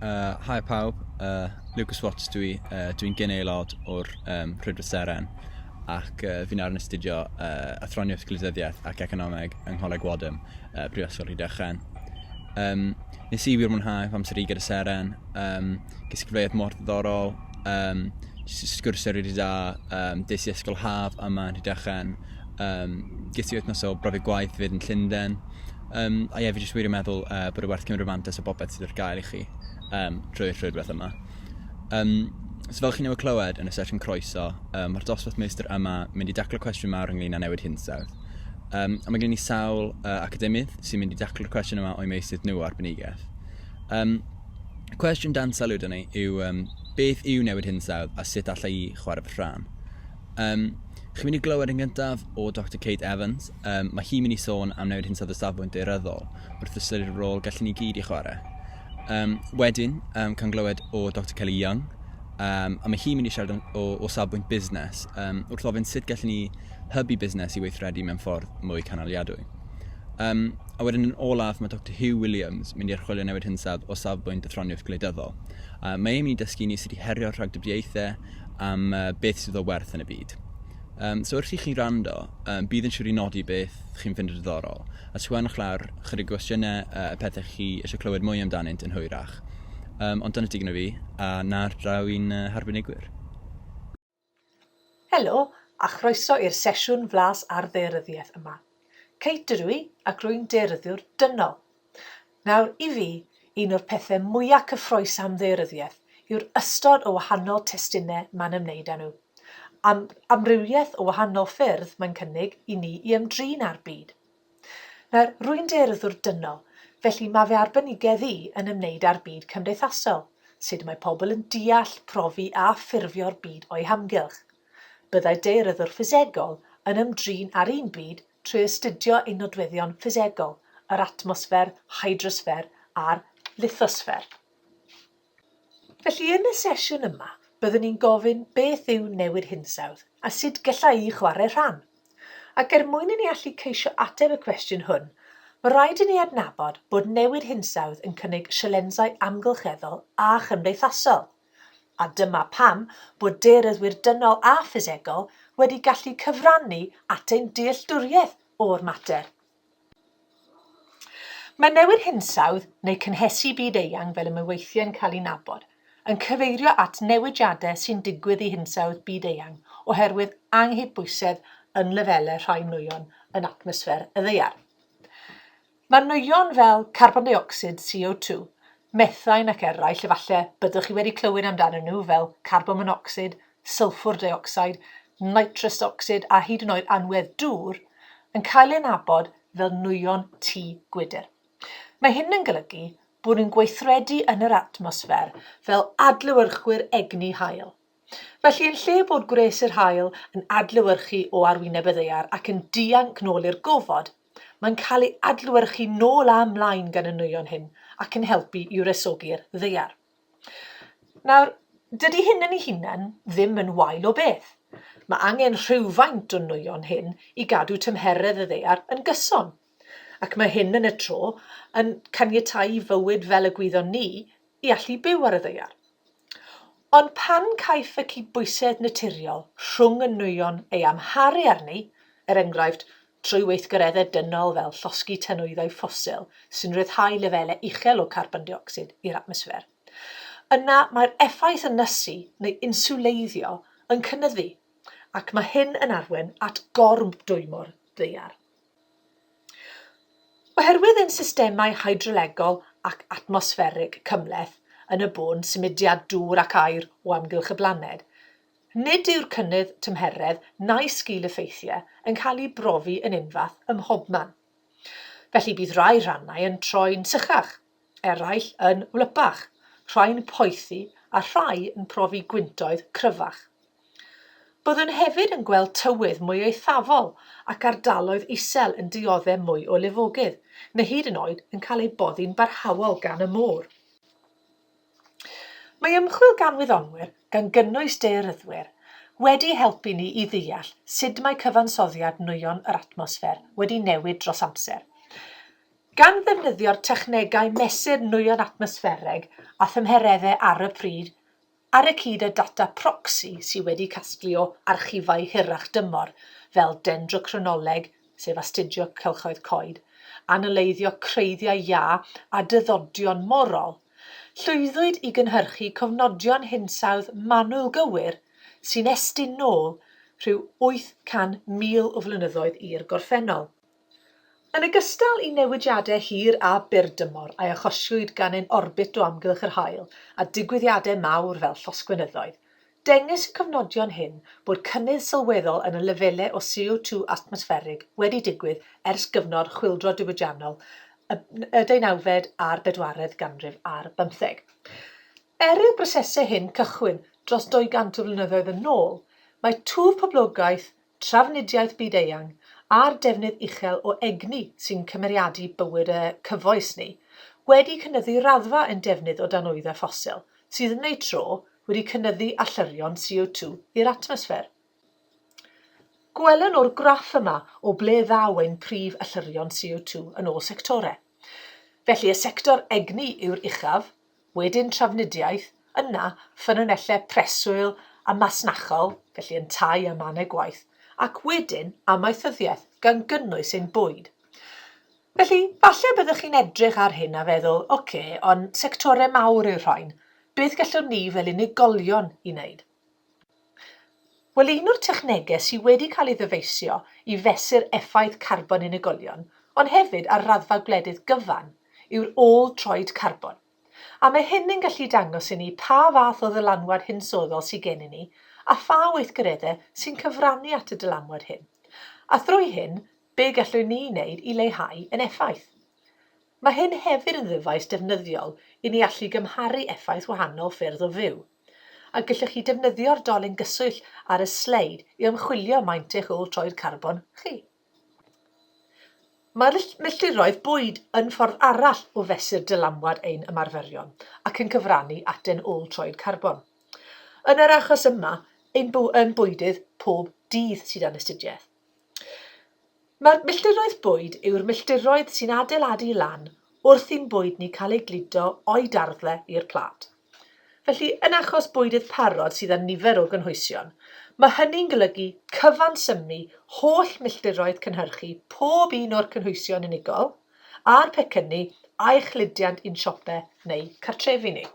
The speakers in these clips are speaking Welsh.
Uh, hi pawb, uh, Lucas Watts dwi, uh, dwi'n gen aelod o'r um, Rhydra Seren ac uh, fi'n arnyn astudio uh, athroniaeth glidyddiaeth ac economeg yng Ngholeg Wadham, uh, Brifysgol Rhydychen. Um, nes i wir mwynhau fy amser i gyda Seren, um, ges i gyfleoedd mor ddiddorol, um, sgwrsio rydw i da, um, des i ysgol haf yma yn Rhydychen, um, ges i wythnos o brofi gwaith fyd yn Llundain, Yym, a ie, fi jyst wir yn meddwl uh, bod e werth cymryd mantes o bobeth sydd ar gael i chi um, drwy'r rhwydwaith yma. Um, so fel chi newydd clywed yn y sesiwn croeso, um, mae'r dosbarth meistr yma mynd i daclo cwestiwn mawr ynglyn â newid hinsawdd. Um, a mae gen i sawl uh, academydd sy'n mynd i daclo'r cwestiwn yma o'i meisydd nhw o arbenigaeth. Um, cwestiwn dan sylw dyn ni yw um, beth yw newid hinsawdd a sut allai i chwarae fy rhan? Um, chi'n mynd i glywed yn gyntaf o Dr Kate Evans. Um, mae hi'n mynd i sôn am newid hinsawdd y safbwynt deiryddol wrth ystyried y rôl gallen ni gyd i chwarae. Um, wedyn, um, cael glywed o Dr Kelly Young, um, a mae hi'n mynd i siarad o, o safbwynt busnes, um, wrth ofyn sut gallen ni hybu busnes i weithredu mewn ffordd mwy canaliadwy. Um, a wedyn yn olaf, mae Dr Hugh Williams mynd i archwilio newid hinsawdd o safbwynt y ffroniaeth gwleidyddol. Uh, mae e'n mynd i dysgu ni sut i herio rhagdybiaethau am beth sydd o werth yn y byd. Um, so wrth i chi rando, um, bydd yn siŵr i nodi beth chi'n fynd yn ddiddorol, a sgwennwch lawr chydig gwestiynau uh, y pethau chi eisiau clywed mwy amdanynt yn hwyrach. Um, ond dyna digon o fi, a na'r draw i'n uh, harbenigwyr. Helo, a chroeso i'r sesiwn flas ar ddearyddiaeth yma. Category ac rwy'n dearyddiwr dynol. Nawr, i fi, un o'r pethau mwya' cyffrous am ddaearyddiaeth yw'r ystod o wahanol testunau mae'n ymwneud â nhw, a'r amrywiaeth o wahanol ffyrdd mae'n cynnig i ni i ymdrin â'r byd. Nawr, rwy'n dearyddiwr dynol, felly mae fy arbenigedd i yn ymwneud â'r byd cymdeithasol, sut mae pobl yn deall, profi a ffurfio'r byd o'u hamgylch. Byddai daearyddwr ffisegol yn ymdrin â'r un byd trwy astudio ei nodweddion ffisegol, yr atmosffer, hydrosffer a'r lithosffer. Felly, yn y sesiwn yma, byddwn ni'n gofyn beth yw newid hinsawdd a sut gellai chwarae rhan. Ac er mwyn i ni allu ceisio ateb y cwestiwn hwn, mae rhaid i ni adnabod bod newid hinsawdd yn cynnig sialensau amgylcheddol a chymdeithasol. A dyma pam bod daearyddwyr dynol a ffisegol wedi gallu cyfrannu at ein dealltwriaeth o'r mater. Mae newid hinsawdd, neu cynhesu byd eang fel y mae weithiau yn cael ei nabod, yn cyfeirio at newidiadau sy'n digwydd i hinsawdd byd eang oherwydd anghydbwysedd yn lefelau rhai nwyon yn atmosffer y Ddaear. Mae nwyon fel carbon deuocsid, CO2, methain ac eraill efallai byddwch chi wedi clywed amdanyn nhw fel carbon monocsid, sylffwr deuocsid, nitrous ocsid a hyd yn oed anwedd dŵr, yn cael eu adnabod fel nwyon tŷ gwydr. Mae hyn yn golygu bod nhw'n gweithredu yn yr atmosffer fel adlewyrchwyr egni haul. Felly, yn lle bod gwres yr haul yn adlewyrchu o arwyneb y ddaear ac yn dianc nôl i'r gofod, Mae'n cael ei adlewyrchu nôl a mlaen gan y nwyon hyn ac yn helpu i wresogi'r ddaear. Nawr, dydy hyn yn ei hunan ddim yn wael o beth. Mae angen rhywfaint o nwyon hyn i gadw tymheredd y ddaear yn gyson. Ac mae hyn yn y tro yn caniatáu i fywyd fel y gwyddon ni i allu byw ar y ddaear. Ond pan caiff y cydbwysedd naturiol rhwng y nwyon ei amharu arni, er enghraifft, trwy weithgareddau dynol fel llosgi tanwyddau ffosil sy'n rhyddhau lefelau uchel o carbon deuocsid i'r atmosffer, yna mae'r effaith ynysu neu inswleiddio yn cynyddu, ac mae hyn yn arwain at gormdwymo'r ddaear. Oherwydd ein systemau hydrolegol ac atmosfferig cymhleth yn y bôn symudiad dŵr ac aer o amgylch y blaned, nid yw'r cynnydd tymheredd na'i sgil-effeithiau yn cael eu brofi yn unfath ym mhobman. Felly bydd rhai rhannau yn troi'n sychach, eraill yn wlypach, rhai'n poethi a rhai yn profi gwyntoedd cryfach. Byddwn hefyd yn gweld tywydd mwy eithafol ac ardaloedd isel yn diodde' mwy o lifogydd, neu hyd yn oed yn cael eu boddi'n barhaol gan y môr. Mae ymchwil gan wyddonwyr, gan gynnwys daearyddwyr, wedi helpu ni i ddeall sut mae cyfansoddiad nwyon yr atmosffer wedi newid dros amser. Gan ddefnyddio'r technegau mesur nwyon atmosffereg a thymhereddau ar y pryd, ar y cyd â data proxy sydd wedi casglu o archifau hirach dymor fel dendrochronoleg, sef astudio cylchoedd coed, analeiddio creiddiau iâ a dyddodion morol, llwyddwyd i gynhyrchu cofnodion hinsawdd manwl gywir sy'n estyn nôl rhyw 800,000 o flynyddoedd i'r gorffennol. Yn ogystal i newidiadau hir a byrdymor a achosiwyd gan ein orbit o amgylch yr haul a digwyddiadau mawr fel llosgfynyddoedd, dengys y cofnodion hyn bod cynnydd sylweddol yn y lefelau o CO2 atmosfferig wedi digwydd ers gyfnod chwyldro diwydiannol y deunawfed a'r bedwaredd ganrif ar bymtheg. Er i'r brosesau hyn cychwyn dros 200 o flynyddoedd yn ôl, mae twf poblogaeth trafnidiaeth byd-eang a'r defnydd uchel o egni sy'n cymeriadu bywyd y cyfoes ni, wedi cynyddu raddfa ein defnydd o danwyddau ffosil, sydd yn eu tro wedi cynyddu allyrrion CO2 i'r atmosffer. Gwelwn o'r graff yma o ble ddaw ein prif allyrrion CO2 yn ôl sectorau. Felly, y sector egni yw'r uchaf, wedyn trafnidiaeth, yna ffynonellau preswyl a masnachol, felly yntau a mannau gwaith, ac wedyn amaethyddiaeth, gan gynnwys ein bwyd. Felly, falle byddwch chi'n edrych ar hyn a feddwl, oce, ond sectorau mawr yw'r rhain, beth gallwn ni fel unigolion i wneud? Wel, un o'r technegau sydd wedi cael ei ddyfeisio i fesur effaith carbon unigolion, ond hefyd ar raddfa gwledydd gyfan, yw'r ôl-droed carbon. A mae hyn yn gallu dangos i ni pa fath o ddylanwad hinsoddol sydd gennym ni a pha weithgareddau sy'n cyfrannu at y dylanwad hyn, a thrwy hyn, be gallwn ni wneud i leihau ein effaith. Mae hyn hefyd yn ddyfais defnyddiol i ni allu gymharu effaith wahanol ffyrdd o fyw. a gellwch chi defnyddio'r dolyn gyswllt ar y sleid i ymchwilio maint eich ôl troed carbon chi. Mae'r milltiroedd bwyd yn ffordd arall o fesur dylanwad ein ymarferion ac yn cyfrannu at ein ôl troed carbon. Yn yr achos yma, ein bwydydd pob dydd sydd yn astudiaeth. Mae'r milltiroedd bwyd yw'r milltiroedd sy'n adeiladu lan wrth i'n bwyd ni cael ei gludo o'i darddle i'r plât. Felly, yn achos bwydydd parod sydd â nifer o gynhwysion, mae hynny'n golygu cyfansymnu holl milltiroedd cynhyrchu pob un o'r cynhwysion unigol a'r pecynnu a'i chludiant i'n siope neu cartrefi ni.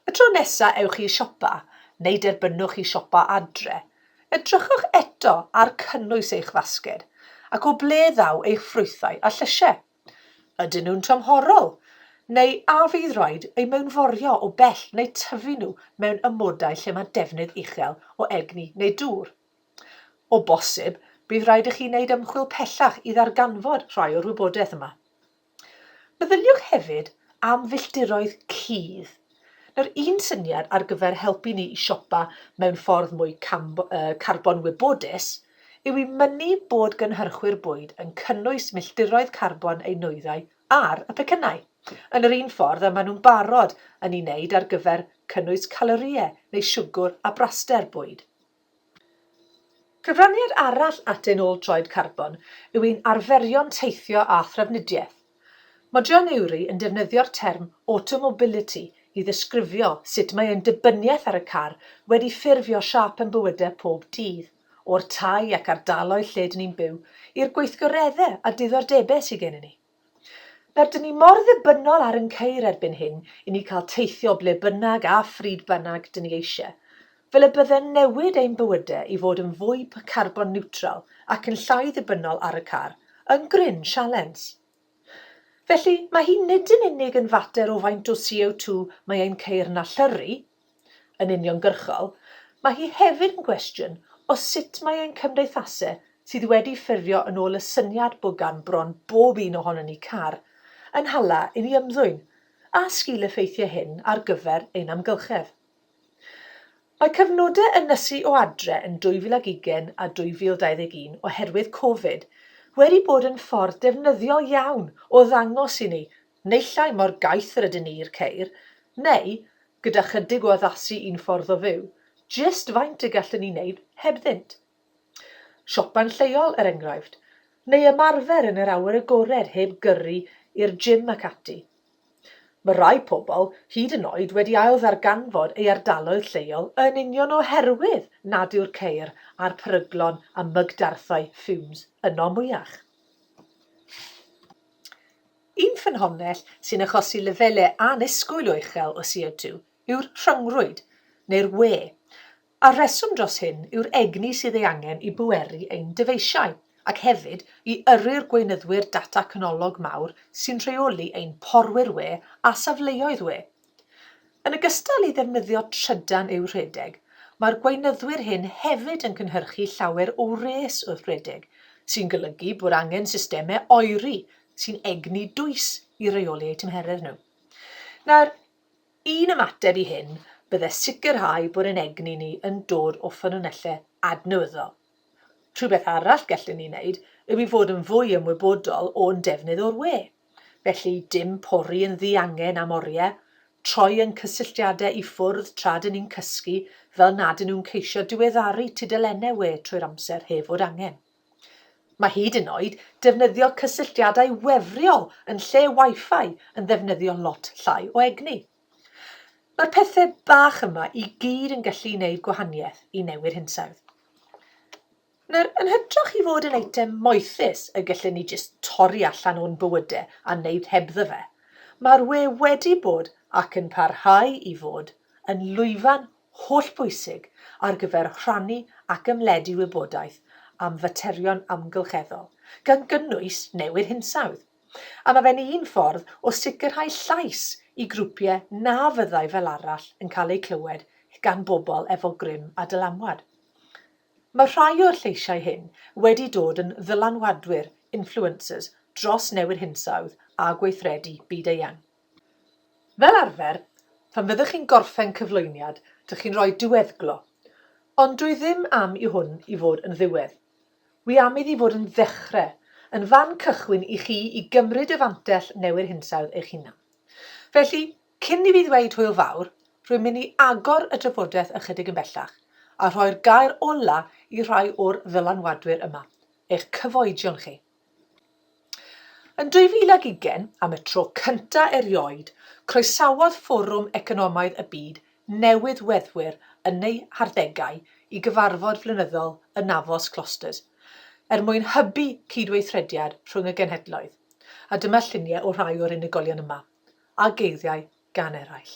Y tro nesa ewch i siopa, neu derbynwch i siopa adre, edrychwch eto ar cynnwys eich fasged ac o ble ddaw eich ffrwythau a llysiau. Ydyn nhw'n tymhorol, neu a fydd rhaid eu mewnforio o bell neu tyfu nhw mewn amodau lle mae defnydd uchel o egni neu dŵr? O bosib, bydd rhaid i chi wneud ymchwil pellach i ddarganfod rhai o'r wybodaeth yma. Meddyliwch hefyd am filltiroedd cudd. Nawr, un syniad ar gyfer helpu ni i siopa mewn ffordd mwy carbon wybodus yw i mynnu bod gynhyrchwyr bwyd yn cynnwys milltiroedd carbon eu nwyddau ar y pecynnau, yn yr un ffordd y maen nhw'n barod yn ei wneud ar gyfer cynnwys calorïau neu siwgr a braster bwyd. Cyfraniad arall at ein ôl troed carbon yw ein arferion teithio a thrafnidiaeth. Mae John Ury yn defnyddio'r term 'automobility' i ddisgrifio sut mae ein dibyniaeth ar y car wedi ffurfio siâp ein bywydau pob dydd, o'r tai ac ardaloedd lle 'dyn ni'n byw, i'r gweithgareddau a diddordebau sy gennym ni. Rydyn ni mor ddibynnol ar yn ceir erbyn hyn i ni cael teithio ble bynnag a phryd bynnag dyn ni eisiau. Fel y bydde'n newid ein bywydau i fod yn fwy carbon niwtral ac yn llai ddibynnol ar y car, yn gryn sialens. Felly, mae hi nid yn unig yn fater o faint o CO2 mae ein ceir yn allyrru, yn uniongyrchol, mae hi hefyd yn gwestiwn o sut mae ein cymdeithase sydd wedi ffurfio yn ôl y syniad bo gan bron bob un ohonon ni car, yn hala i ni ymddwyn, a sgil-effeithiau hyn ar gyfer ein amgylchedd. Mae cyfnodau ynysu o adre yn 2020 a 2021 oherwydd Covid wedi bod yn ffordd defnyddiol iawn o ddangos i ni Neillai mor gaeth yr ydyn ni i'r ceir, neu, gyda chydig o addasu i'n ffordd o fyw, jyst faint y gallwn ni wneud hebddynt. Siopa'n lleol, er enghraifft, neu ymarfer yn yr awyr agored heb gyrru i'r gym ac ati. Mae rhai pobl hyd yn oed wedi ailddarganfod ei ardaloedd lleol yn union oherwydd nad yw'r ceir a'r peryglon a mygdarthau fumes yno mwyach. Un ffynhonnell sy'n achosi lefelau annisgwyl o uchel o CO2 yw'r rhyngrwyd, neu'r wê, a'r rheswm dros hyn yw'r egni sydd ei angen i bweru ein dyfeisiau, ac hefyd i yrru'r gweinyddwyr data canolog mawr sy'n rheoli ein porwyr wê a safleoedd wê, Yn ogystal i ddefnyddio trydan i'w rhedeg, mae'r gweinyddwyr hyn hefyd yn cynhyrchu llawer o wres wrth redeg, sy'n golygu bod angen systemau oeri sy'n egni dwys i reoli eu tymheredd nhw. Nawr, un ymateb i hyn bydde sicrhau bod ein egni ni yn dod o ffynonellau adnewyddol. Rhywbeth arall gellwn ni wneud yw i fod yn fwy ymwybodol o'n defnydd o'r we. Felly, dim pori yn ddiangen am oriau, troi ein cysylltiadau i ffwrdd tra dŷn ni'n cysgu fel nad ŷn nhw'n ceisio diweddaru tudalennau we trwy'r amser heb fod angen. Mae hyd yn oed defnyddio cysylltiadau wefriol yn lle Wi-Fi yn ddefnyddio lot llai o egni. Mae'r pethe bach yma i gyd yn gallu neud gwahaniaeth i newid hinsawdd. Nawr, yn hytrach i fod yn eitem moethus y gallwn ni jyst torri allan o'n bywyde a neud hebddo fe, mae'r we wedi bod ac yn parhau i fod yn lwyfan hollbwysig ar gyfer rhannu ac ymledu wybodaeth am faterion amgylcheddol, gan gynnwys newid hinsawdd. a mae fe'n un ffordd o sicrhau llais i grwpiau na fyddai fel arall yn cael eu clywed gan bobl efo grym a dylanwad. Mae rhai o'r lleisiau hyn wedi dod yn ddylanwadwyr, influencers, dros newid hinsawdd a gweithredu byd-eang. Fel arfer, phan fyddwch chi'n gorffen cyflwyniad, dych chi'n rhoi diweddglo, ond dw i ddim am i hwn i fod yn ddiwedd. Wi am iddi fod yn ddechre, yn fan cychwyn i chi i gymryd y fantell newid hinsawdd eich hunan. Felly, cyn i fi ddweud hwyl fawr, rwy'n mynd i agor y drafodaeth ychydig yn bellach, a rhoi'r gair ola i rhai o'r ddylanwadwyr yma, eich cyfoedion chi. Yn 2020, am y tro cyntaf erioed, croesawodd Fforwm Economaidd y Byd newydd weddwyr yn eu harddegau i gyfarfod flynyddol y Navos Clusters, er mwyn hybu cydweithrediad rhwng y genhedloedd, a dyma lluniau o rhai o'r unigolion yma, a geiriau gan eraill.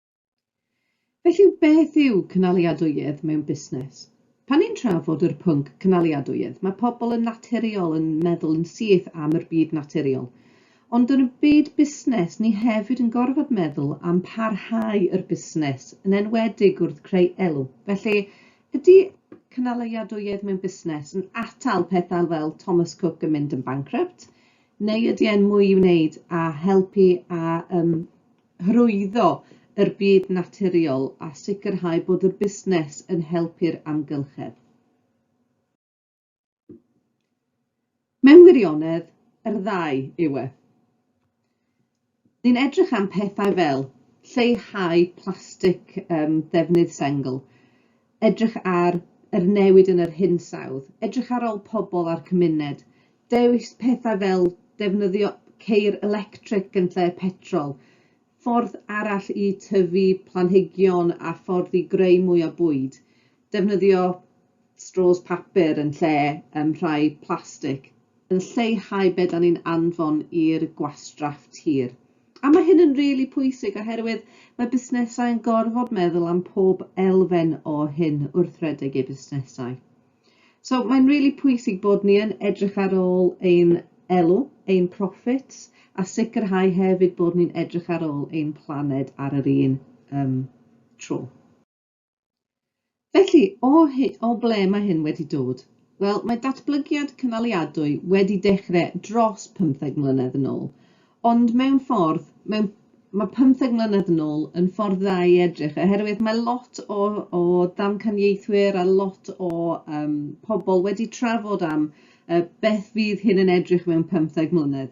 Felly, beth yw cynaliadwyedd mewn busnes? Pan ni'n trafod yr pwnc cynaliadwyedd, mae pobl yn naturiol yn meddwl yn syth am yr byd naturiol. Ond yn y byd busnes, ni hefyd yn gorfod meddwl am parhau yr busnes, yn enwedig wrth creu elw. Felly, ydy cynaliadwyedd mewn busnes yn atal pethau fel Thomas Cook yn mynd yn bancrypt, neu ydy e'n mwy i wneud a helpu a um, hyrwyddo yr byd naturiol a sicrhau bod y busnes yn helpu'r amgylchedd. Mewn wirionedd, yr ddau yw e. Ni'n edrych am pethau fel lleihau plastig ddefnydd sengl, edrych ar yr newid yn yr hinsawdd, edrych ar ol pobl a'r cymuned, dewis pethau fel defnyddio ceir electric yn lle petrol, ffordd arall i tyfu planhigion a ffordd i greu mwy o bwyd, defnyddio straws papur yn lle rhai plastig, yn lleihau be dan ni'n anfon i'r gwastraff tir. A mae hyn yn rili really pwysig oherwydd mae busnesau yn gorfod meddwl am pob elfen o hyn wrth redeg eu busnesau. So mae'n rili really pwysig bod ni yn edrych ar ôl ein elw, ein profits, a sicrhau hefyd bod ni'n edrych ar ôl ein planed ar yr un um, tro. Felly, o, o ble mae hyn wedi dod? Wel, mae datblygiad cynaliadwy wedi dechrau dros 15 mlynedd yn ôl, ond mewn ffordd, mewn, mae 15 mlynedd yn ôl yn ffordd dda i edrych, oherwydd mae lot o, o ddamcaniaethwyr a lot o um, pobl wedi trafod am uh, beth fydd hyn yn edrych mewn 15 mlynedd.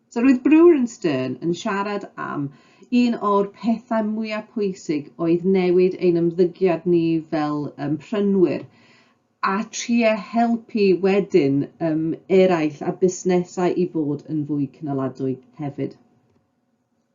So roedd Brewer and Stern yn siarad am un o'r pethau mwyaf pwysig oedd newid ein ymddygiad ni fel um, prynwyr a trio helpu wedyn um, eraill a busnesau i fod yn fwy cynaladwy hefyd.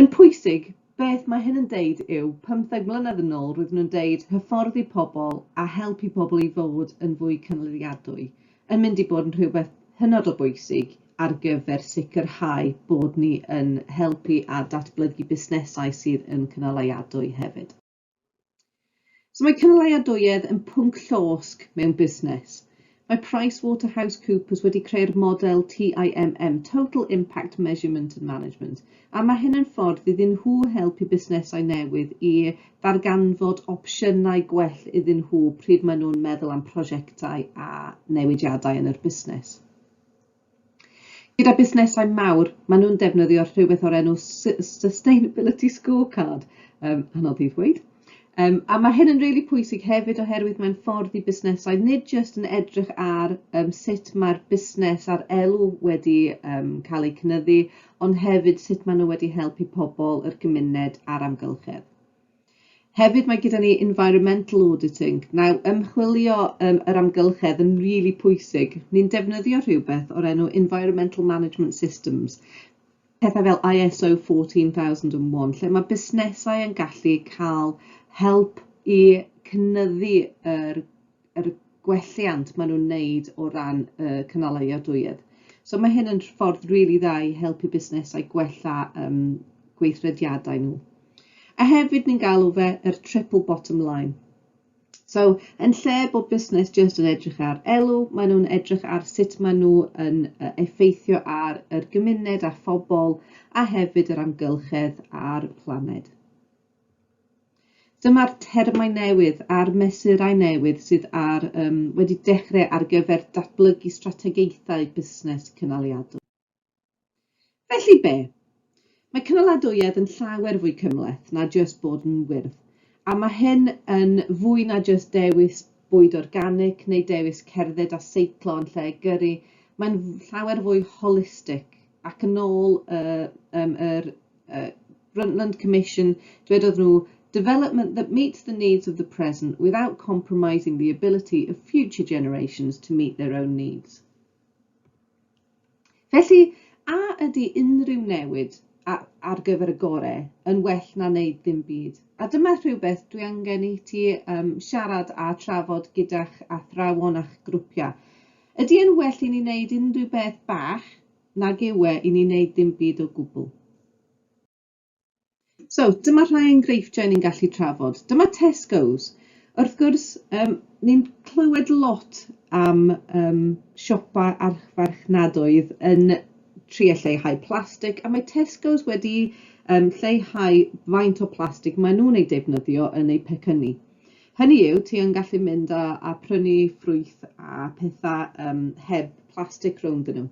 Yn pwysig, beth mae hyn yn deud yw, pymtheg mlynedd yn ôl roedden nhw'n deud hyfforddi pobl a helpu pobl i fod yn fwy cynaliadwy yn mynd i bod yn rhywbeth hynod o bwysig ar gyfer sicrhau bod ni yn helpu a datblygu busnesau sydd yn cynaliadwy hefyd. So mae cynaliadwyedd yn pwnc llosg mewn busnes. Mae PricewaterhouseCoopers wedi creu'r model TIMM, Total Impact Measurement and Management, a mae hyn yn ffordd iddyn nhw helpu busnesau newydd i ddarganfod opsiynau gwell iddyn nhw pryd maen nhw'n meddwl am prosiectau a newidiadau yn yr busnes. Gyda busnesau mawr, maen nhw'n defnyddio rhywbeth o'r enw su- sustainability scorecard, yym anodd i ddweud, yym a ma' hyn yn rili pwysig hefyd oherwydd mae'n ffordd i busnesau nid jyst yn edrych ar yym sut mae'r busnes a'r elw wedi yym cael eu cynyddu, ond hefyd sut maen nhw wedi helpu pobl, yr gymuned a'r amgylchedd. Hefyd mae gyda ni environmental auditing. Now, ymchwilio um, yr amgylchedd yn rili really pwysig. Ni'n defnyddio rhywbeth o'r enw Environmental Management Systems, pethau fel ISO 14001, lle mae busnesau yn gallu cael help i cynyddu yr yr gwelliant maen nhw'n wneud o ran y cynaliadwyedd. So mae hyn yn ffordd rili really dda i helpu busnesau gwella um, gweithrediadau nhw. A hefyd ni'n galw fe yr triple bottom line. So, yn lle bod busnes jyst yn edrych ar elw, maen nhw'n edrych ar sut maen nhw yn effeithio ar yr gymuned a phobl a hefyd yr amgylchedd a'r planed. Dyma'r termau newydd a'r mesurau newydd sydd ar, um, wedi dechrau ar gyfer datblygu strategaethau busnes cynaliadwy. Felly be? Mae cynaladwyedd yn llawer fwy cymhleth na jyst bod yn wyrdd, a mae hyn yn fwy na jyst dewis bwyd organic neu dewis cerdded a seiclo yn lle gyrru, mae'n llawer fwy holistig ac yn ôl y, um, yr uh, Brundtland Commission, dwedodd nhw, development that meets the needs of the present without compromising the ability of future generations to meet their own needs. Felly, a ydy unrhyw newid ar gyfer y gore yn well na wneud ddim byd? A dyma rhywbeth dwi angen i ti um, siarad a trafod gyda'ch athrawon a'ch grwpiau. Ydy yn well i ni wneud unrhyw beth bach nag yw e i ni wneud dim byd o gwbl. So, dyma rhai enghreifftiau ni'n gallu trafod. Dyma Tesco's. Wrth gwrs, um, ni'n clywed lot am um, siopa archfarchnadoedd yn trio lleihau plastig, a mae Tesco's wedi um, lleihau faint o plastig maen nhw'n ei defnyddio yn eu pecynnu. Hynny yw, ti yn gallu mynd a, a prynu ffrwyth a pethau um, heb plastig rownd nhw.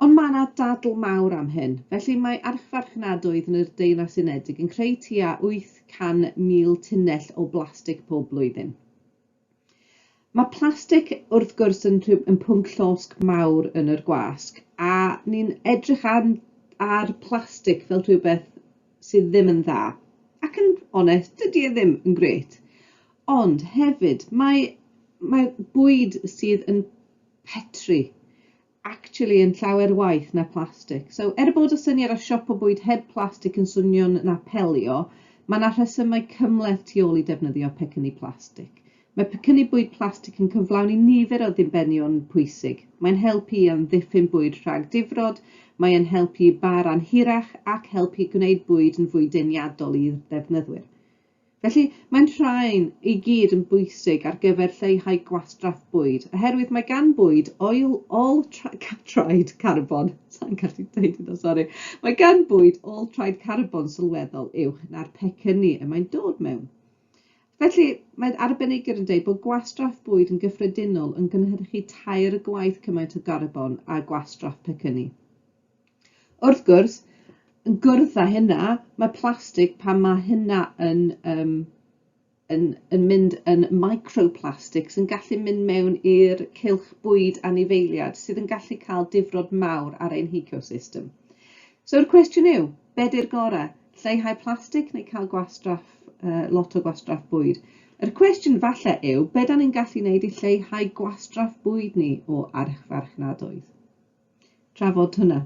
Ond mae yna dadl mawr am hyn, felly mae archfarchnadoedd yn yr Deyrnas Unedig yn creu tua 800,000 tunnell o blastig pob blwyddyn. Mae plastig wrth gwrs yn rhyw yn pwnc llosg mawr yn yr gwasg a ni'n edrych ar ar plastig fel rhywbeth sydd ddim yn dda ac yn onest dydy e ddim yn grêt ond hefyd mae mae bwyd sydd yn petri actually yn llawer waeth na plastic. So, er bod y syniad o siopa bwyd heb plastic yn swnio'n na pelio, mae yna rhesymau cymhleth tu ôl i defnyddio pecynnu plastic. Mae pecynnu bwyd plastic yn cyflawni nifer o ddibenion pwysig. Mae'n helpu i amddiffyn bwyd rhag difrod, mae yn helpu i bâr anhirach ac helpu gwneud bwyd yn fwy deniadol i'r defnyddwyr. Felly, mae'n rhain i gyd yn bwysig ar gyfer lleihau gwastraff bwyd, oherwydd mae gan bwyd ôl, ôl traed carbon, sa'n gallu dweud hynna, sori, mae gan bwyd ôl traed carbon sylweddol uwch na'r pecynnu y mae'n dod mewn. Felly, mae arbenigyr yn dweud bod gwastraff bwyd yn gyffredinol yn gynhyrchu tair gwaith cymaint o garbon â gwastraff pecynnu. Wrth gwrs, yn gwrdd â hynna, mae plastig, pan mae hynna yn, um, yn, yn mynd yn microplastics, yn gallu mynd mewn i'r cylch bwyd anifeiliad, sydd yn gallu cael difrod mawr ar ein hecosystem. So'r cwestiwn yw, be di'r gorau? Lleihau plastig neu cael gwastraff, uh, lot o gwastraff bwyd? Yr cwestiwn falle yw, be da ni'n gallu wneud i lleihau gwastraff bwyd ni o archfarchnadoedd? drafod hwnna.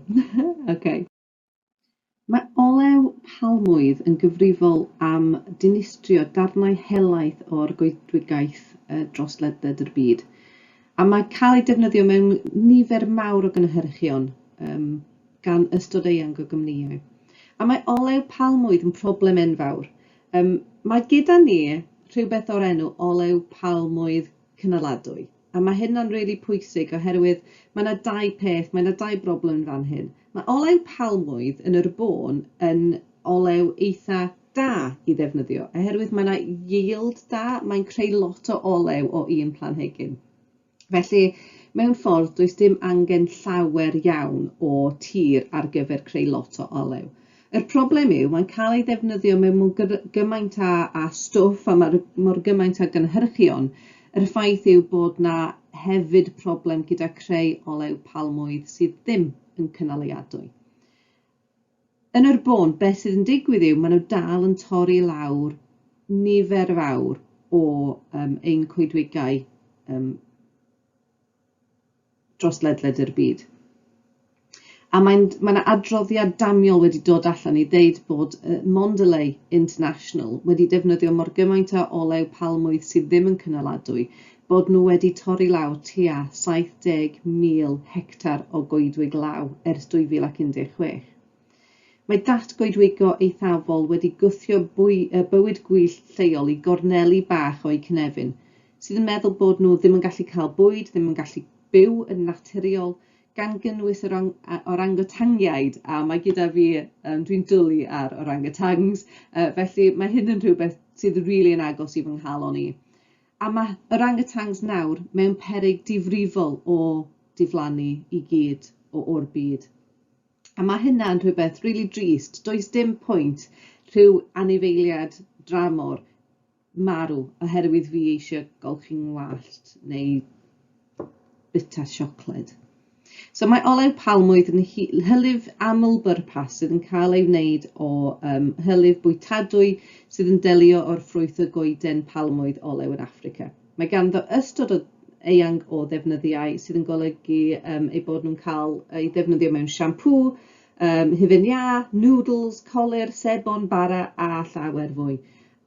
okay. Mae olew palmwydd yn gyfrifol am dinistrio darnau helaeth o'r goedwigaeth dros ledled yr byd, a mae cael ei defnyddio mewn nifer mawr o gynhyrchion um, gan ystod eang o gymnïau. A mae olew palmwydd yn problem enfawr. Um, mae gyda ni rhywbeth o'r enw olew palmwydd cynaladwy. A mae hyn yn rili pwysig oherwydd mae 'na dau peth, mae 'na dau broblem yn fan hyn. Mae olew palmwydd yn yr bôn yn olew eitha' da i ddefnyddio oherwydd mae 'na yield da, mae'n creu lot o olew o un planhigyn. Felly mewn ffordd does dim angen llawer iawn o tir ar gyfer creu lot o olew. Yr problem yw, mae'n cael ei ddefnyddio mewn mor gymaint a a stwff a mae mor gymaint a gynhyrchion. Yr ffaith yw bod 'na hefyd problem gyda creu olew palmwydd sydd ddim yn cynaliadwy. Yn yr bôn, beth sydd yn digwydd yw, maen nhw dal yn torri lawr nifer fawr o um, ein coedwigau um, dros ledled yr byd. A mae'n, mae yna adroddiad damiol wedi dod allan i ddeud bod uh, Mondelez International wedi defnyddio mor gymaint o olew palmwydd sydd ddim yn cynaladwy, bod nhw wedi torri law tua 70,000 hectar o goedwig law ers 2016. Mae datgoedwigo eithafol wedi gwthio bywyd gwyllt lleol i gorneli bach o'u cynefin, sydd yn meddwl bod nhw ddim yn gallu cael bwyd, ddim yn gallu byw yn naturiol, gan gynnwys yr orangotangiaid, a mae gyda fi, um, dwi'n dwlu ar orangotangs, uh, felly mae hyn yn rhywbeth sydd rili really yn agos i fy nghalon i. A mae orangotangs nawr mewn peryg difrifol o diflannu i gyd o o'r byd. A mae hynna'n rhywbeth rili drist. Does dim pwynt rhyw anifeiliad dramor marw oherwydd fi eisiau golchi ngwallt neu bita siocled. So mae olew palmwydd yn hylif aml bwrpas sydd yn cael ei wneud o um, hylif bwytadwy sydd yn delio o'r ffrwyth y goeden palmwydd olew yn Affrica. Mae ganddo ystod o eang o ddefnyddiau sydd yn golygu um, eu bod nhw'n cael eu ddefnyddio mewn siampŵ, um, hufen iâ, noodles, colir, sebon, bara a llawer fwy.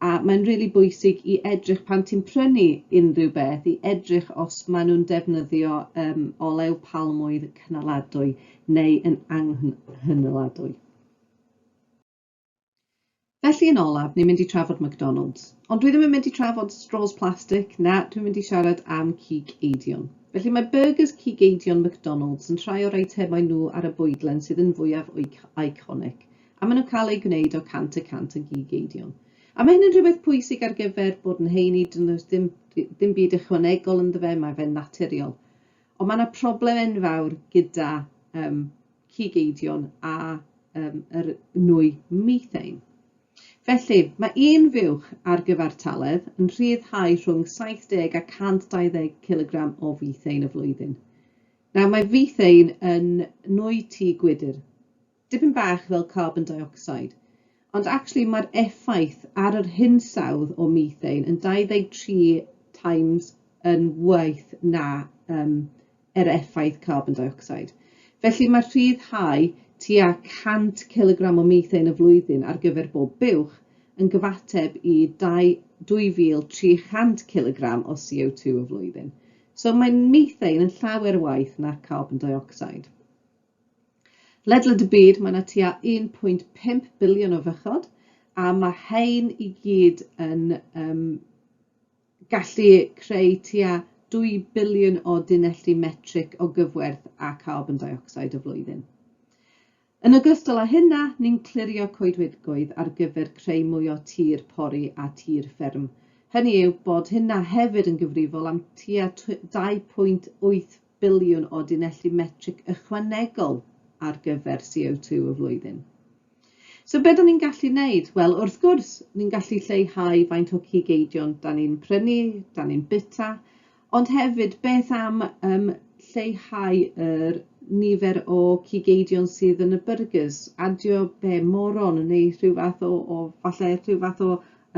A mae'n rili really bwysig i edrych pan ti'n prynu unrhyw beth, i edrych os maen nhw'n defnyddio um, olew palmwydd cynaladwy neu yn anghynaladwy. Felly yn olaf, ni'n mynd i trafod McDonalds. Ond dwi ddim yn mynd i trafod straws plastig, na, dwi'n mynd i siarad am cig eidion. Felly mae byrgys cig eidion McDonalds yn rhai o'r eitemau nhw ar y bwydlen sydd yn fwyaf iconic, a maen nhw'n cael eu gwneud o 100 y cant o gig eidion. A mae hyn yn rhywbeth pwysig ar gyfer bod yn heini, does dim, dim byd ychwanegol ynddo fe, mae fe'n naturiol. Ond mae yna problem enfawr gyda um, cig eidion a um, yr nwy methane. Felly, mae un fuwch ar gyfartaledd yn rhyddhau rhwng 70 a 120 kg o fethane y flwyddyn. Nawr, mae fethane yn nwy tu gwydr, dipyn bach fel carbon dioxide, ond actually mae'r effaith ar yr hinsawdd o methane yn 23 times yn waith na um, er effaith carbon dioxide. Felly mae rhyddhau tua 100 cilogram o methane y flwyddyn ar gyfer bob buwch yn gyfateb i 2,300 cilogram o CO2 y flwyddyn. So mae methane yn llawer waith na carbon dioxide. Ledled y byd mae yna tua 1.5 biliwn o fychod a mae hein i gyd yn um, gallu creu tua 2 biliwn o dunelli metrig o gyfwerth a carbon deuocsid y flwyddyn. Yn ogystal â hynna, ni'n clirio coedwigoedd ar gyfer creu mwy o tir pori a tir fferm, hynny yw bod hynna hefyd yn gyfrifol am tua 2.8 biliwn o dunelli metrig ychwanegol ar gyfer CO2 y flwyddyn. So be da ni'n gallu wneud? Wel, wrth gwrs, ni'n gallu lleihau faint o cig eidion da ni'n prynu, da ni'n bita, ond hefyd beth am um, lleihau yr nifer o cig eidion sydd yn y burgers, adio be moron neu rhyw fath o, o falle rhyw fath o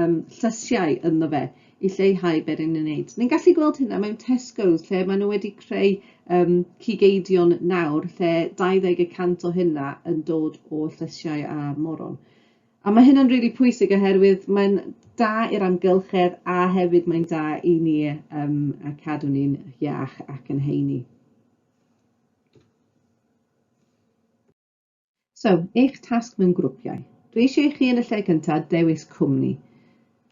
um, llysiau ynddo fe i lleihau beth yn ei wneud. Ni'n gallu gweld hynna mewn Tesco's lle maen nhw wedi creu um, cigeidion nawr lle 20 y cant o hynna yn dod o llysiau a moron. A mae hynna'n rili really pwysig oherwydd mae'n da i'r amgylchedd a hefyd mae'n da i ni um, a cadw ni'n iach ac yn heini. So, eich tasg mewn grwpiau. Dwi eisiau i chi yn y lle cynta dewis cwmni.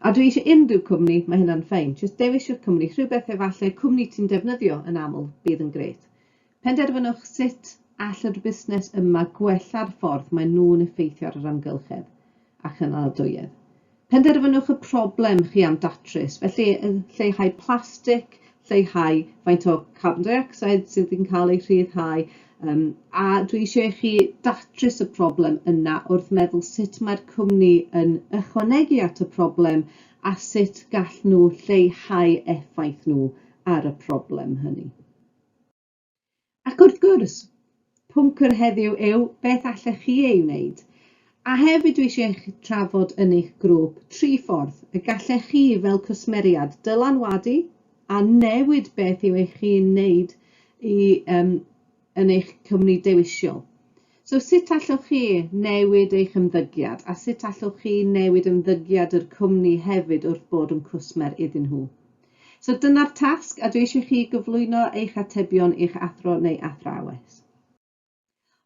A dwi eisiau unrhyw cwmni, mae hynna'n ffein. Jyst dewis yr cwmni, rhywbeth efalle cwmni ti'n defnyddio yn aml bydd yn grêt. Penderfynwch sut all yr busnes yma gwella'r ffordd maen nhw'n effeithio ar yr amgylchedd a chynaliadwyedd. Penderfynwch y problem chi am datrys, felly lleihau plastig, lleihau faint o carbon dioxide sydd yn cael ei rhyddhau, um, a dwi eisiau i chi datrys y problem yna wrth meddwl sut mae'r cwmni yn ychwanegu at y problem a sut gall nhw lleihau effaith nhw ar y problem hynny. Ac wrth gwrs, pwnc yr heddiw yw beth allech chi ei wneud. A hefyd dwi eisiau eich trafod yn eich grŵp tri ffordd y gallech chi fel cwsmeriad dylanwadu a newid beth yw eich chi'n wneud i, um, yn eich cwmni dewisol. So sut allwch chi newid eich ymddygiad a sut allwch chi newid ymddygiad yr cwmni hefyd wrth bod yn cwsmer iddyn nhw. So dyna'r tasg a dwi eisiau chi gyflwyno eich atebion i'ch athro neu athrawes.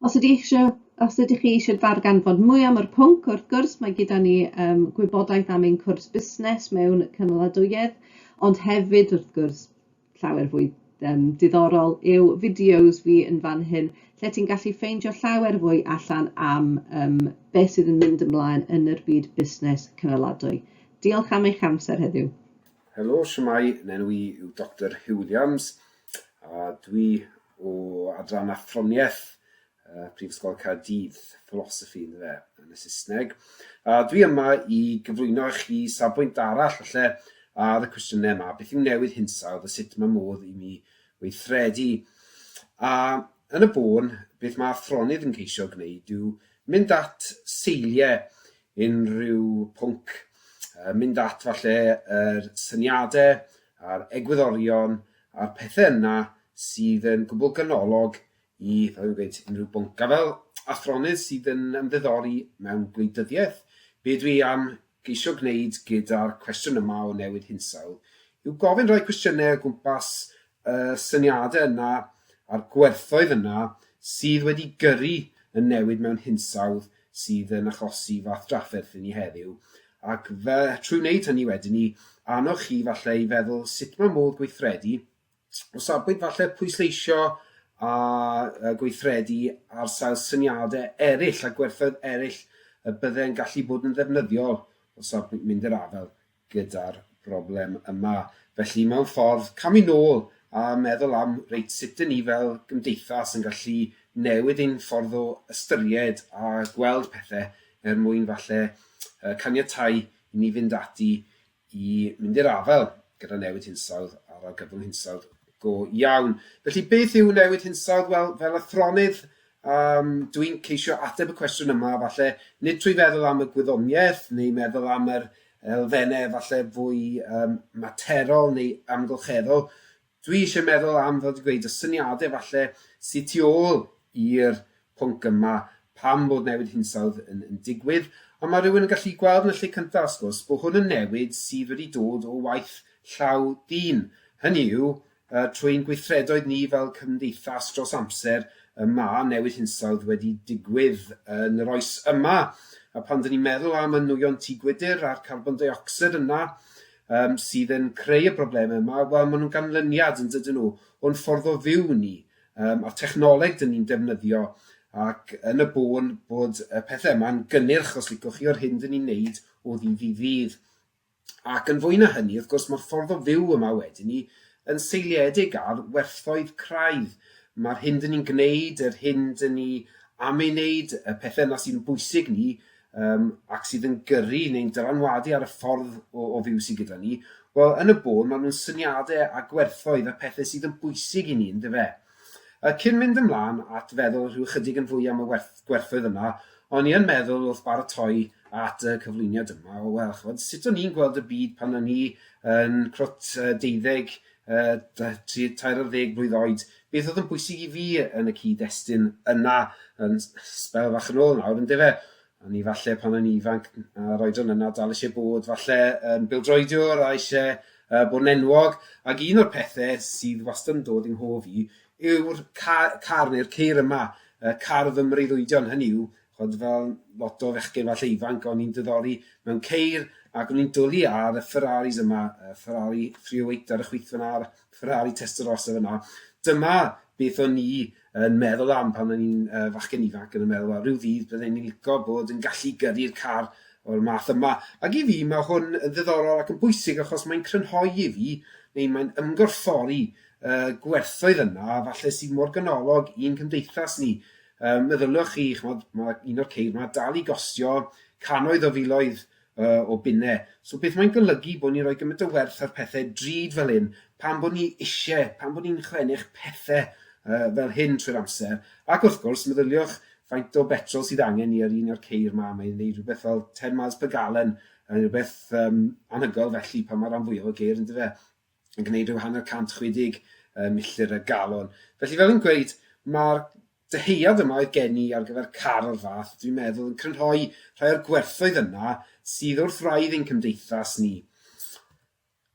Os ydych, eisiau, os ydych chi eisiau darganfod mwy am yr pwnc, wrth gwrs mae gyda ni um, gwybodaeth am ein cwrs busnes mewn cynaladwyedd, ond hefyd wrth gwrs llawer fwy um, diddorol yw fideos fi yn fan hyn lle ti'n gallu ffeindio llawer fwy allan am um, beth sydd yn mynd ymlaen yn yr byd busnes cynaladwy. Diolch am eich amser heddiw. Helo, shwmae, nenw i yw Doctor Huw Williams a dwi o adran athroniaeth uh, Prifysgol Caerdydd, philosophy yn fe, yn y Saesneg. A dwi yma i gyflwyno i chi safbwynt arall falle ar y cwestiynau yma, beth yw newid hinsawdd a sut mae modd i ni weithredu. A yn y bôn, beth mae athronydd yn ceisio gwneud yw mynd at seiliau unrhyw pwnc, yy mynd at falle yr syniade a'r egwyddorion a'r pethe yna sydd yn gwbwl ganolog i, fel fi'n gweud, unrhyw bwnc. A fel athronydd sydd yn ymddiddori mewn gwleidyddiaeth, be dwi am geisio gwneud gyda'r cwestiwn yma o newid hinsawdd yw gofyn rhai cwestiynau o gwmpas y syniadau yna a'r gwerthoedd yna sydd wedi gyrru y newid mewn hinsawdd sydd yn achosi fath drafferth i ni heddiw, ac fe, trwy wneud hynny wedyn ni, annog chi falle i feddwl sut mae modd gweithredu, o safbwynt falle pwysleisio a gweithredu ar sail syniadau eraill a gwerthoedd eraill y byddai'n gallu bod yn ddefnyddiol o safbwynt mynd i'r afael gyda'r broblem yma. Felly, mewn ffordd, camu nôl a meddwl am, reit, sut dŷn ni fel gymdeithas yn gallu newid ein ffordd o ystyried a gweld pethau er mwyn falle caniatáu i ni fynd ati i mynd i'r afael gyda newid hinsawdd a'r argyfwng hinsawdd go iawn. Felly, beth yw newid hinsawdd? Wel, fel athronydd, Yym, dw i'n ceisio ateb y cwestiwn yma, falle, nid trwy feddwl am y gwyddoniaeth neu meddwl am yr elfennau falle fwy um, materol neu amgylcheddol. Dwi eisiau meddwl am, fel dwi'n gweud, y syniadau falle sydd tu ôl i'r pwnc yma pam bod newid hinsawdd yn, yn digwydd, ond mae rhywun yn gallu gweld yn y lle cyntaf, wrth gwrs, bod hwn yn newid sydd wedi dod o waith llaw dyn. Hynny yw, Trwy ein gweithredoedd ni fel cymdeithas dros amser, y mae newid hinsawdd wedi digwydd yn yr oes yma, a phan dŷn ni'n meddwl am y nwyon tŷ gwydr a'r carbon deuocsid yna yym sydd yn creu y broblemau yma, wel, maen nhw'n ganlyniad, yn dydyn nhw, o'n ffordd o fyw ni, um, a'r technoleg dŷn ni'n defnyddio, ac yn y bôn bod y pethau yma'n gynnyrch, os licwch chi, o'r hyn dŷn ni'n neud o ddydd i ddydd. Ac yn fwy na hynny, wrth gwrs, mae'r ffordd o fyw yma wedi 'ny yn seiliedig ar werthoedd craidd. Mae'r hyn 'dyn ni'n gwneud, yr hyn 'dyn ni am ei wneud, y pethau yna sy'n bwysig ni um, ac sydd yn gyrru neu'n dylanwadu ar y ffordd o, o fyw sydd gyda ni, wel, yn y bôn, maen nhw'n syniadau a gwerthoedd a pethau sydd yn bwysig i ni, yn dyfe? Cyn mynd ymlaen at feddwl rhyw ychydig yn fwy am y gwerthoedd yma, o'n i yn meddwl wrth baratoi at y cyflwyniad yma, o wel, ch'mod, sut o'n i'n gweld y byd pan o'n i yn crwt deuddeg, tri, tair ar ddeg blwydd oed, beth oedd yn bwysig i fi yn y cyd-destun yna yn sbel fach yn ôl nawr, yndyfe? O'n i falle pan o'n i'n ifanc, a'r oedran yna, dal eisiau bod falle yn bildroediwr a eisiau uh, bod yn enwog. Ac un o'r pethau sydd wastad yn dod i'n hof i yw'r car, car neu'r ceir yma, uh, car fy mreiddwydion, hynny yw, chod fel lot o fechgyn falle ifanc, o'n i'n dyddori mewn ceir ac o'n i'n dwlu ar y Ferraris yma, y Ferrari 308 ar y chwith fyna, Ferrari Testarossa fyna. Dyma beth o'n i yn meddwl am pan o'n i'n uh, fachgen ifanc yn meddwl, rhyw ddydd byddwn ni'n licio bod yn gallu gyrru'r car o'r math yma. Ac i fi, mae hwn yn ddiddorol ac yn bwysig achos mae'n crynhoi i fi, neu mae'n ymgorffori uh, gwerthoedd yna, falle sydd mor ganolog i'n cymdeithas ni. Um, meddyliwch chi, chmod, mae un o'r ceir yma dal i gostio cannoedd o filoedd yy, o bunne. So beth mae'n golygu bod ni'n rhoi gymaint o werth ar pethe drud fel hyn, pan bod ni isie, pan bod ni'n chlennych pethe yy, fel hyn trwy'r amser, ac wrth gwrs, meddyliwch faint o betrol sydd angen ni ar un o'r ceir ma, mae'n gwneud rhywbeth fel 10 miles per gallon, yn rhywbeth um, anhygoel felly pan mae rhan fwyaf o geir yn dyfe, yn gwneud rhyw hanner 160 uh, milltir y galon. Felly fel yn gweud, mae'r Dyhead yma oedd gen i ar gyfer car o'r fath, dwi'n meddwl yn crynhoi rhai o'r gwerthoedd yna sydd wrth wraidd ein cymdeithas ni.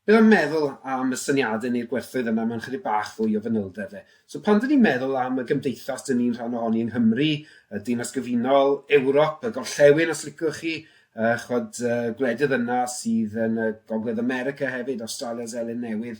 Beth am meddwl am y syniadau neu'r gwerthoedd yna mewn chydig bach fwy o fanylder de. So pan dyn ni'n meddwl am y gymdeithas dyn ni'n rhan ohoni yng Nghymru, y Dinas Gyfunol, Ewrop, y Gorllewin os licwch chi, uh, chwad, uh, gwledydd yna sydd yn y Gogledd America hefyd, Australia, Zelyn Newydd,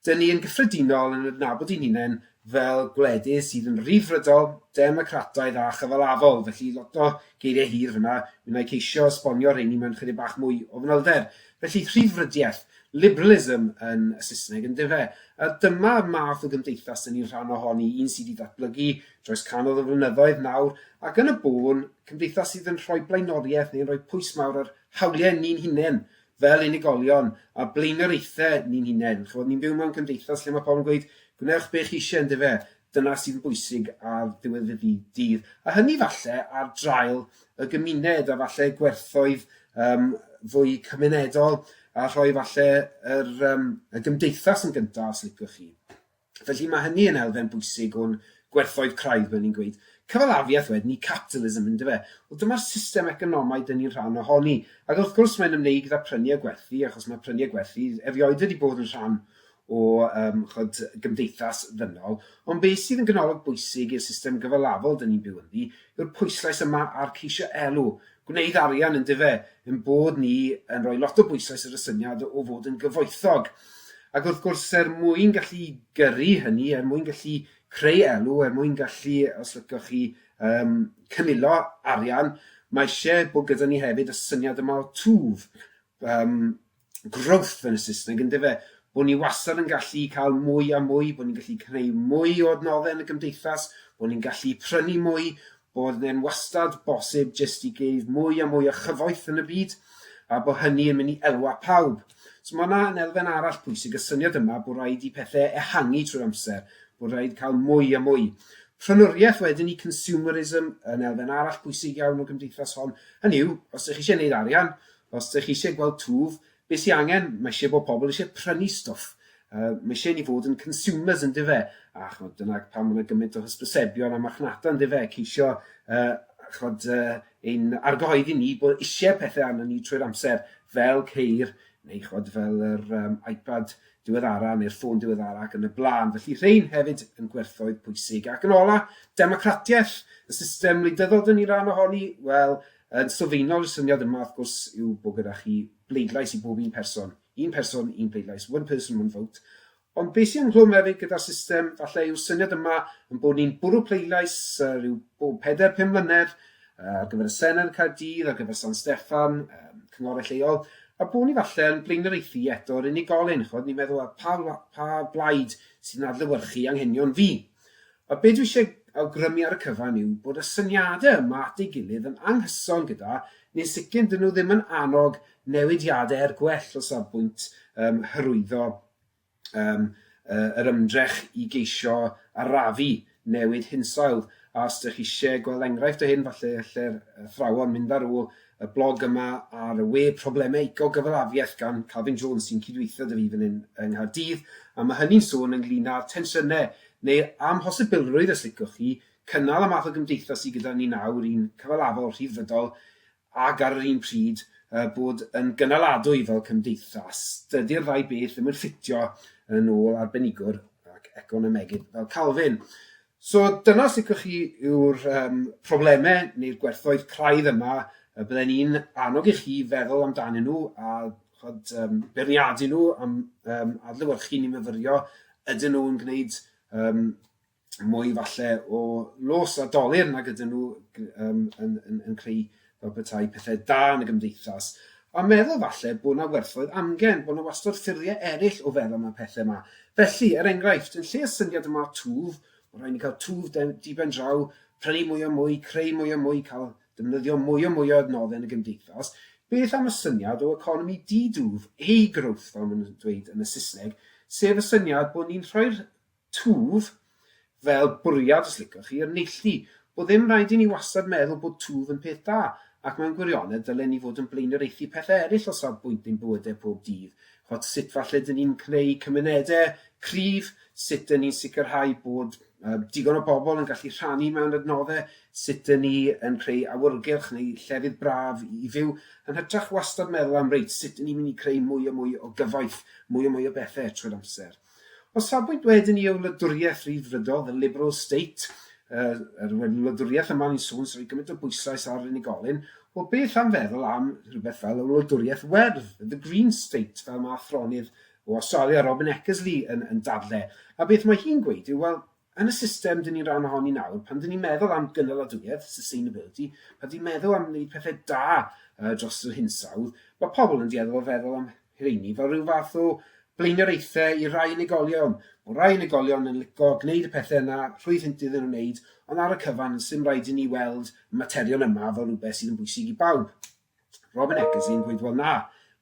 Dŷn ni yn gyffredinol yn adnabod ein hunain fel gwledydd sydd yn Ryddfrydol, Democrataidd a Chyfalafol, felly lot o geiriau hir fan'na, mi wna i ceisio esbonio rheini mewn chydig bach mwy o fanylder. Felly, rhyddfrydiaeth, liberalism yn y Saesneg, yndyfe? A dyma math o gymdeithas dŷn ni'n rhan ohoni, un sydd wedi datblygu dros canol o flynyddoedd nawr, ac yn y bôn, cymdeithas sydd yn rhoi blaenoriaeth neu'n rhoi pwys mawr ar hawliau ni'n hunain, fel unigolion, a blaenoriaethau ni'n hunain. Chibod, ni'n byw mewn cymdeithas lle mae pobl yn gweud, gwnewch be chi eisiau, yn dyfe? Dyna sydd yn bwysig ar ddiwedd y dydd. A hynny falle ar draul y gymuned a falle gwerthoedd um, fwy cymunedol a rhoi falle yr, um, y gymdeithas yn gyntaf, os liciwch chi. Felly, mae hynny yn elfen bwysig o'n gwerthoedd craidd, fel ni'n gweud. Cyfalafiaeth wedyn i capitalism, yn dyfe? Wel, dyma'r system economaidd dŷn ni'n rhan ohoni. Ac wrth gwrs, mae'n ymwneud gyda phrynu a gwerthu, achos mae prynu a gwerthu erioed wedi bod yn rhan o um, chod, gymdeithas ddynol. Ond beth sydd yn ganolog bwysig i'r system gyfalafol dŷn ni'n byw ynddi yw'r pwyslais yma ar ceisio elw, gwneud arian yndyfe, ein bod ni yn rhoi lot o bwysais ar y syniad o fod yn gyfoethog. Ac wrth gwrs, er mwyn gallu gyrru hynny, er mwyn gallu creu elw, er mwyn gallu, os lycoch chi, um, cynilo arian, mae eisiau bod gyda ni hefyd y syniad yma o twf, um, growth yn y Saesneg, yn dyfe? Bod ni wastad yn gallu cael mwy a mwy, bod ni'n gallu creu mwy o adnoddau yn y gymdeithas, bod ni'n gallu prynu mwy, bod e'n wastad bosib jyst i geif mwy a mwy o chyfoeth yn y byd, a bod hynny yn mynd i elwa pawb. So mae yna yn elfen arall pwysig, y syniad yma bod rhaid i pethau ehangu trwy'r amser, bod rhaid cael mwy a mwy. Prynwriaeth wedyn i consumerism yn elfen arall pwysig iawn o gymdeithas hon. Hynny yw, os ydych chi eisiau gwneud arian, Os dych chi eisiau gweld twf, beth sy'n angen, mae eisiau bod pobl eisiau prynu stwff. Uh, mae eisiau ni fod yn consumers yn dife, a chod, dyna pan mae'n gymaint o hysbysebion a marchnata yn dife, ceisio uh, chod, uh, ein argyhoeddi ni bod eisiau pethau arno ni trwy'r amser, fel ceir, neu chod, fel yr um, iPad diweddara neu'r ffôn diweddara ac yn y blaen. Felly rhain hefyd yn gwerthoedd pwysig. Ac yn ola, democratiaeth, y system wleidyddol dyn ni ran ohoni, wel, Yn sylfaenol, y syniad yma, wrth gwrs, yw bod gyda chi bleidlais i bob un person, un person, un pleidlais, one person, one vote, ond be sy'n ynghlwm hefyd gyda'r system, falle yw'r syniad yma yn bod ni'n bwrw pleidlais uh, rhyw bob peder, pum mlynedd, uh, ar gyfer y Senedd yn Caerdydd, ar gyfer San Steffan, um, cynghorau lleol, a bod ni falle yn blaenoriaethu eto'r unigolyn, chod ni'n meddwl pa, pa blaid sy'n adlywyrchu anghenion fi. A be dwi eisiau awgrymu ar y cyfan yw bod y syniadau yma at ei gilydd yn anghyson gyda, neu'n sicr 'dyn nhw ddim yn annog newidiadau er gwell o safbwynt um, hyrwyddo um, uh, yr ymdrech i geisio arafu newid hinsawdd. A os ydych chi eisiau gweld enghraifft o hyn, falle lle'r athrawon mynd ar ôl y blog yma ar y we Problemau Ecogyfalafiaeth gan Calvin Jones sy'n cydweithio 'da fi fan hyn yng Nghaerdydd a ma' hynny'n sôn ynglŷn â'r tensiynau neu'r amhosibilrwydd os liciwch chi cynnal y math o gymdeithas sy gyda ni nawr, un cyfalafol, rhyddfrydol ac ar yr un pryd yy bod yn gynaladwy fel cymdeithas. Dydy'r ddau beth ddim yn ffitio yn ôl arbenigwr ac economegydd fel Calvin. So dyna os licwch chi yw'r um, problemau neu'r gwerthoedd craidd yma y bydden ni'n annog i chi feddwl amdanyn nhw a chod, um, beirniadu nhw am um, adlywyrchu ni myfyrio ydyn nhw'n gwneud um, mwy falle o los a dolir nag ydyn nhw um, yn, yn, yn creu fel petai pethau da yn y gymdeithas, a meddwl falle bod 'na werthoedd amgen, bod 'na wastod ffyrddie eryll o feddwl am y pethe 'ma. Felly, er enghraifft, yn lle y syniad yma o twf, ma' rhai' ni ca'l twf de- di-ben-draw, prynu mwy a mwy, creu mwy a mwy, ca'l defnyddio mwy a mwy o adnodde yn y gymdeithas, beth am y syniad o economi di-dwf, A-growth fel ma' nw'n dweud yn y Sysneg, sef y syniad bod ni'n rhoi'r Twf, fel bwriad os licwch chi, yn neilltu. Bod ddim rhaid i ni wastad meddwl bod twf yn peth da, ac mewn gwirionedd ddylen ni fod yn blaenoriaethu pethau eraill o safbwynt ein bywydau pob dydd, ch'od sut falle dyn ni'n cneu cymunedau cryf, sut dyn ni'n sicrhau bod yy digon o bobl yn gallu rhannu mewn adnoddau, sut dyn ni yn creu awyrgylch neu llefydd braf i fyw, yn hytrach wastad meddwl am reit, sut dyn ni'n mynd i creu mwy a mwy o gyfoeth, mwy a mwy o bethau trwy'r amser. O safbwynt wedyn i y wladwriaeth Rhyddfrydol, the liberal state, yr er wedyn wladwriaeth yma ni'n sôn sy'n rhoi gymaint o bwyslais ar unigolyn, wel beth am feddwl am rhywbeth fel y wladwriaeth werdd, the green state, fel mae athronydd o Awstralia, Robin Eckersley, yn, yn dadle. A beth mae hi'n gweud yw, wel, Yn y system dyn ni'n ran ohoni nawr, pan dyn ni'n meddwl am gynaladwyedd, sustainability, pan dyn ni'n meddwl am wneud pethau da uh, dros yr hinsawdd, mae pobl yn dueddol o feddwl am rheini fel rhyw fath o blaenoriaethau i rai unigolion. Mae rai unigolion yn lico gwneud y pethau yna rhwydd hynt iddyn nhw wneud, ond ar y cyfan, sy'n rhaid i ni weld y materion yma fel rhywbeth sydd yn bwysig i bawb. Robin Eccles yn gweud wel na,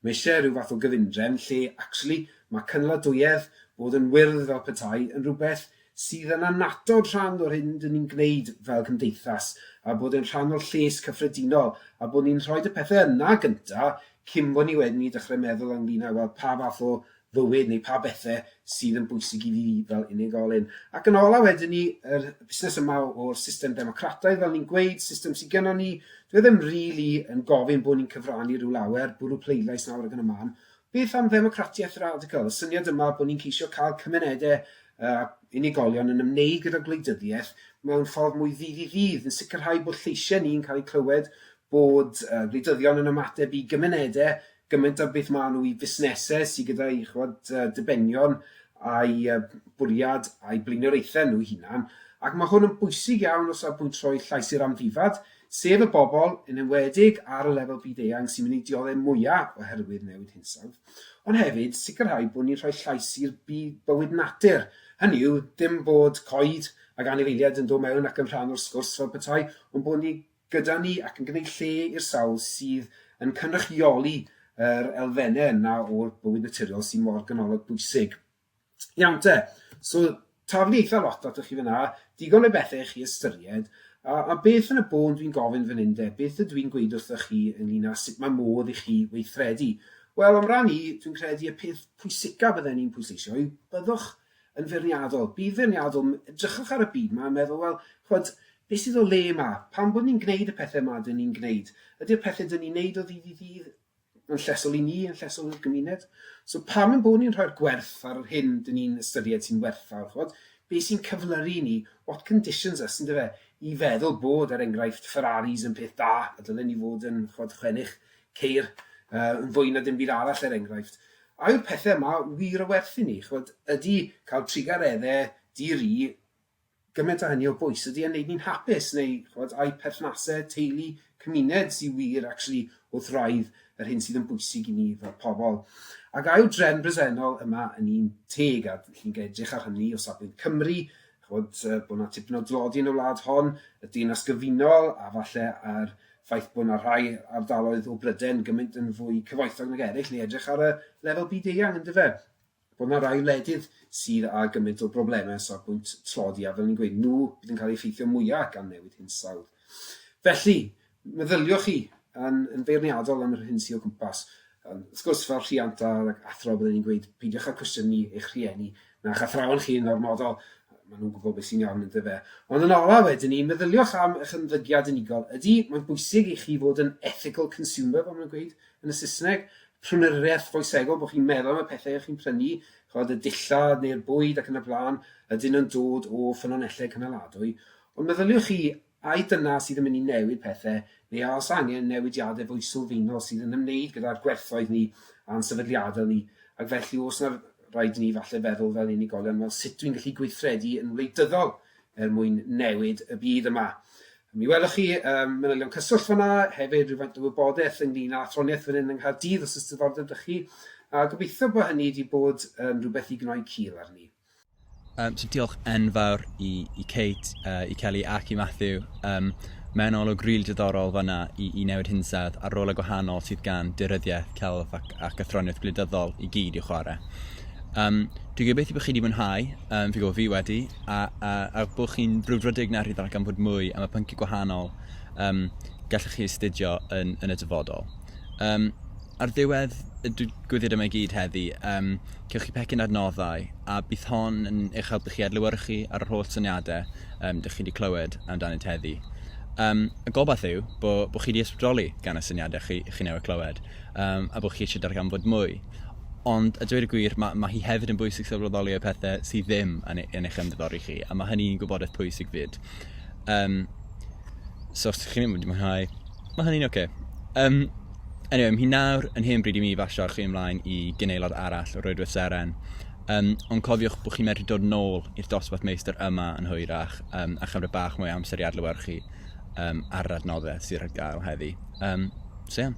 mae eisiau rhyw fath o gyfundrefn lle actually mae cynaladuedd, bod yn wyrdd fel petai, yn rhywbeth sydd yn annatod rhan o'r hyn dyn ni'n gwneud fel cymdeithas a bod e'n rhan o'r lles cyffredinol a bod ni'n rhoid y pethau yna gynta cyn bod ni wedyn i dechrau meddwl ynglyn â wel pa fath o fywyd neu pa bethe sydd yn bwysig i fi fel unigolyn. Ac yn ola wedyn ni, yr busnes yma o'r system democrataidd, fel ni'n gweud, system sydd gennon ni, dwi e ddim rili yn gofyn bod ni'n cyfrannu rhyw lawer, bwrw pleidlais nawr ac yn y man. Beth am ddemocratiaeth radical, y syniad yma bod ni'n ceisio cael cymunedau a unigolion yn ymwneud gyda gwleidyddiaeth mewn ffordd mwy ddydd i ddydd, yn sicrhau bod lleisiau ni'n cael eu clywed, bod gwleidyddion yn ymateb i gymunedau gymaint a beth maen nhw i fusnesau sydd gyda'i chwad, dibenion a'i bwriad a'i blaenoriaethau nhw'i hunan, ac mae hwn yn bwysig iawn o safbwynt rhoi llais i'r amddifad, sef y bobl, yn enwedig ar y lefel byd-eang, sy'n mynd i dioddef mwyaf oherwydd newid hinsawdd, ond hefyd sicrhau bod ni'n rhoi llais i'r bywyd natur, hynny yw, dim bod coed ac anifeiliaid yn dod mewn ac yn rhan o'r sgwrs fel petai, ond bod ni'n gyda ni ac yn gwneud lle i'r sawl sydd yn cynrychioli yr elfennau yna o'r bywyd naturiol sy'n mor ganolog bwysig. Iawn te, so taflu eitha lot atoch chi fyna, digon o bethau i chi ystyried, a, a beth yn y bôn dwi'n gofyn fan hyn de, beth ydw i'n gweud wrthych chi ynglyn â sut mae modd i chi weithredu? Wel, am ran i, dwi'n credu y peth pwysicaf fydden ni'n pwysleisio yw byddwch yn feirniadol, byd feirniadol, edrychwch ar y byd 'ma a meddwl, wel, ch'mod, beth sydd o le 'ma? Pam bod ni'n gwneud y pethau 'ma 'dyn ni'n gwneud? Ydy'r pethau 'dyn ni'n wneud o ddydd i ddydd yn llesol i ni, yn llesol i'r gymuned? So pam ein bod ni'n rhoi'r gwerth ar yr hyn 'dyn ni'n ystyried sy'n werthfawr, ch'mod? Be sy'n cyflyru i ni, what conditions us, yndyfe, i feddwl bod, er enghraifft, Ferraris yn peth da, a dylen ni fod yn, ch'mod, chwennych ceir yy yn fwy na dim byd arall er enghraifft. A yw'r pethe yma wir o werth i ni? Ch'mod, ydi cael trugaredde di-ri gyment a hynny o bwys? Ydi e'n neud ni'n hapus neu ch'mod ai perthnase teulu, cymuned sy wir actually wrth wraidd yr hyn sydd yn bwysig i ni fel pobl? Ac a yw'r drefn bresennol yma yn un teg a chi'n ga-edrych ar hynny o safbwynt Cymru ch'mod, yy, bod 'na tipyn o dlodi yn y wlad hon, y Deyrnas Gyfunol, a falle a'r ffaith bod 'na rhai ardaloedd o Bryden gymaint yn fwy cyfoethog nag eraill, neu edrych ar y lefel byd-eang, yn dyfe? Bod 'na rai wledydd sydd â gymaint o broblemau o safbwynt tlodi, a fel ni'n gweud, nhw bydd yn cael eu effeithio mwya' gan newid hinsawdd. Felly, Meddyliwch chi yn, yn feirniadol am yr hyn sydd o gwmpas. Um, wrth gwrs, fel rhiant a'r athro, byddwn ni'n gweud, peidiwch â cwestiynu eich rhieni na'ch athrawon chi yn ormodol, maen nhw'n gwybod beth sy'n iawn yn dyfe. Ond yn ola wedyn ni, meddyliwch am eich ymddygiad unigol. Ydy, mae'n bwysig i chi fod yn ethical consumer, fel mae'n gweud yn y Saesneg, prynwriaeth foesegol, bod chi'n meddwl am y pethau chi'n prynu, chod y dillad neu'r bwyd ac yn y blaen, ydyn nhw'n dod o ffynonellau cynaladwy. Ond meddyliwch chi Ai dyna sydd yn mynd i newid pethe, neu a oes angen newidiadau fwy sylfaenol sydd yn ymwneud gyda'r gwerthoedd ni a'n sefydliadau ni, ac felly oes 'na raid i ni falle feddwl fel unigolion, wel sut dwi'n gallu gweithredu yn wleidyddol er mwyn newid y byd yma? Mi welwch chi um, manylion cyswllt fanna, hefyd rhywfaint o wybodaeth ynglyn â athroniaeth fan hyn yng Nghaerdydd os ys diddordeb dych chi, a gobeithio bod hynny wedi bod yn rhywbeth i gnoi cil arni. Um, so diolch enfawr i, i Kate, uh, i Kelly ac i Matthew. Um, Mae'n olwg rili really diddorol fanna i, i newid hinsawdd a'r rolau gwahanol sydd gan dyryddiaeth, celf ac, ac athroniaeth gwleidyddol i gyd i'w chwarae. Um, dwi'n gobeithio bod chi wedi mwynhau, um, fi gwybod fi wedi, a, a, a bod chi'n brwdfrydig na rhyddol gan fod mwy am y pynciau gwahanol um, gallwch chi astudio yn, yn y dyfodol. Um, Ar ddiwedd y digwyddiad yma i gyd heddi, um, cewch chi pecyn adnoddau, a bydd hon yn eich helpu chi adlywyrchu ar yr holl syniadau um, dych chi wedi clywed amdanynt heddi. Um, y gobaith yw bod bo chi wedi ysbrydoli gan y syniadau chi, chi newydd clywed, um, a bod chi eisiau darganfod mwy. Ond, a dweud y gwir, mae, mae hi hefyd yn bwysig sylweddoli y pethau sydd ddim yn, e, yn eich ymddiddori chi, a mae hynny'n gwybodaeth pwysig fyd. Um, so, os ydych chi'n mynd i mwynhau Mae hynny'n oce. Yym, anyway, mae hi nawr yn hen bryd i mi basio chi ymlaen i gynaelod arall o'r Oedwedd Seren. Um, ond cofiwch bod chi'n medru dod nôl i'r dosbarth meistr yma yn hwyrach um, a chymryd bach mwy o amser i adlywyrchu um, ar yr adnoddau sydd ar gael heddi. Um, so, yeah.